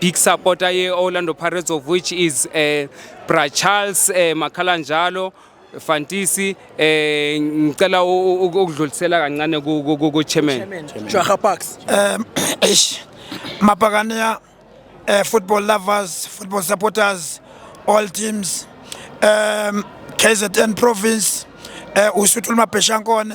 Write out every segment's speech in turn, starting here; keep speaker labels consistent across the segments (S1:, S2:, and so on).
S1: big supporter ye-orlando pirates of which is uh, bra charles uh, makhala njalo fantisi eh ngicela ukudlulisela kancane ku chairman Jwaha Parks um
S2: eish
S3: mabhakaniya eh football lovers football supporters all teams um KZN province eh usuthuluma Bheshankone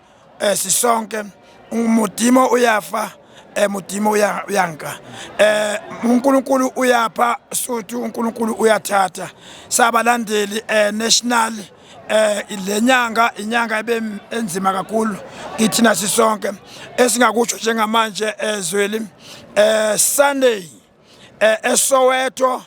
S3: eh sisonke umudimo uyafa eh mudimo uyanka eh uNkulunkulu uyapha suthi uNkulunkulu uyathatha sabalandeli eh national eh lenyanga inyanga ebe enzima kakhulu kithina sisonke esingakusho njengamanje ezweli eh, eh Sunday eh eSoweto eh,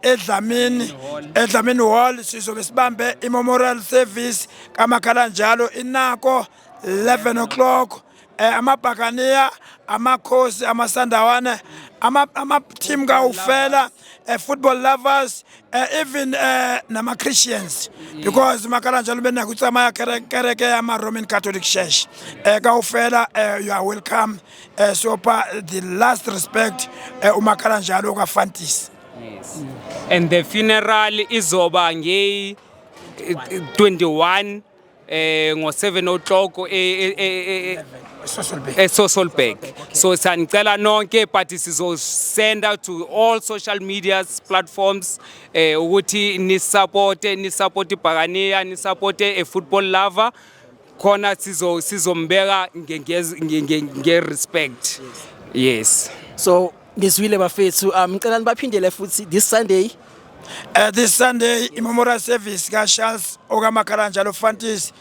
S3: edlamini edlamini hall sizobe sibambe i-memorial service kamakhala njalo inako 11 o'clock eh, amabhakaniya amakhosi amasandawana ama-team ama kawufela uh, football lovers uh, even uh, nama-christians mm. because makala njalo benakutsamaya kereke yama-roman catholic church uh, kawufela uh, you are welcome eh sopha the last respect eh, umakhala njalo ka Fantis yes.
S1: and the funeral izoba nge 21 eh ngo 7 o'clock e, e, e, e eSosolberg so sanicela nonke but sizosend out to all social media platforms eh ukuthi ni support ni support ibhakaniya ni support a football lover khona sizo sizombeka nge respect yes so
S2: ngizwile bafethu um ngicela nibaphindele futhi this sunday Uh, this
S3: Sunday imemorial service ka Charles okaMakharanja lo Fantis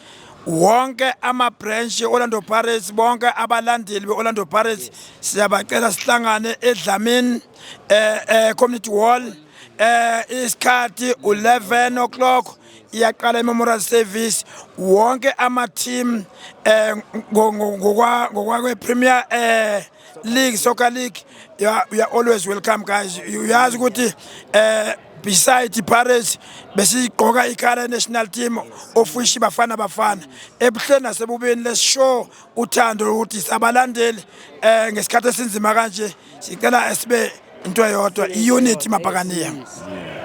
S3: wonke ama branch Orlando Pirates bonke abalandeli beOrlando Pirates siyabacela sihlangane eDlamini eh, eh community hall eh isikhathi 11 o'clock iyaqala i-memorial service wonke ama-team eh ngokwakwephremier eh league soccer league you are, you are always welcome guys uyazi ukuthi eh beside iPirates besigqoka ikhala national team ofishi bafana bafana ebuhleni nasebubeni lesishow uthando ukuthi sabalandeli eh ngesikhathi esinzima kanje sicela esibe into eyodwa i-unity mabhakaniya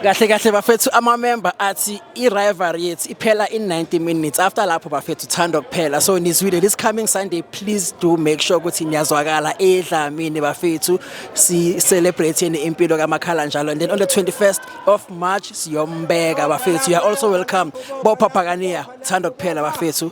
S3: kahle kahle
S2: bafethu amamember athi i-rivalry yethu iphela in 90 minutes after lapho bafethu thanda kuphela so nizwile this coming sunday please do make sure ukuthi niyazwakala edlamini bafethu si-celebratheni impilo kamakhala njalo and then on the 21st of march siyombeka bafethu you are also welcome bophapakaniya thanda kuphela bafethu